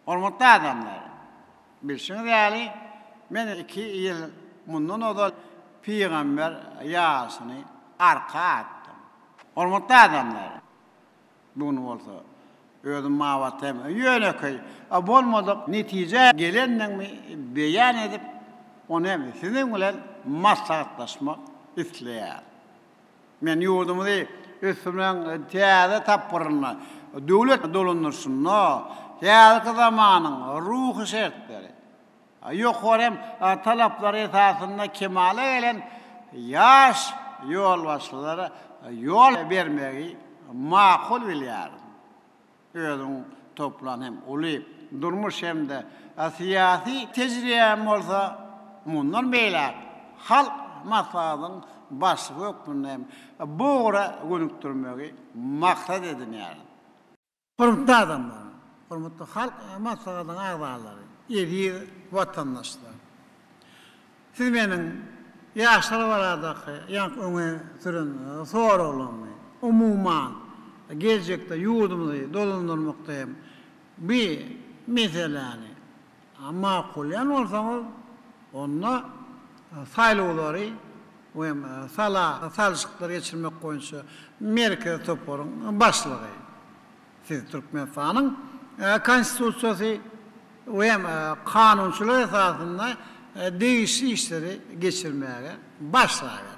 Hormatly adamlar! Bilşiňiz ýaly, men iki ýyl mundan ozal pygamber ýaşyny arka atdym. Hormatly adamlar! Bu gün bolsa özüm mabat hem ýönekeý, bolmadyk netijä gelendigimi beýan edip, ony hem siziň bilen maslahatlaşmak isleýärin. Men ýurdumyzy ösdürmegiň täze tapgyrynda, döwlet dolandyryşynda häzirki zamanyň ruhy şertleri, ýokary hem talaplary esasynda kemala gelen ýaş ýolbaşçylara ýol bermegi makul bilýärin. Özüň toplan hem uly durmuş hem-de syýasy tejribäň bolsa, mundan beýläk Halk Maslahatynyň Başlygy hökmünde hem bu ugra gönükdirmegi maksat edinýärin. Hormatly adamlar, hormatly Halk Maslahatynyň agzalary, eziz watandaşlar! Siz meniň ýaşlar baradaky ýaňky öňe süren soraglarymy, umuman, geljekde ýurdumyzy dolandyrmakda hem bu meseläni makullaýan bolsaňyz, onda saýlawlary we hem sala salşyklary geçirmek boýunça merkezi toparyň başlygy, Siz Türkmenistanyň Konstitusiýasy we kanunçylyk esasynda degişli işleri geçirmäge başlaberiň.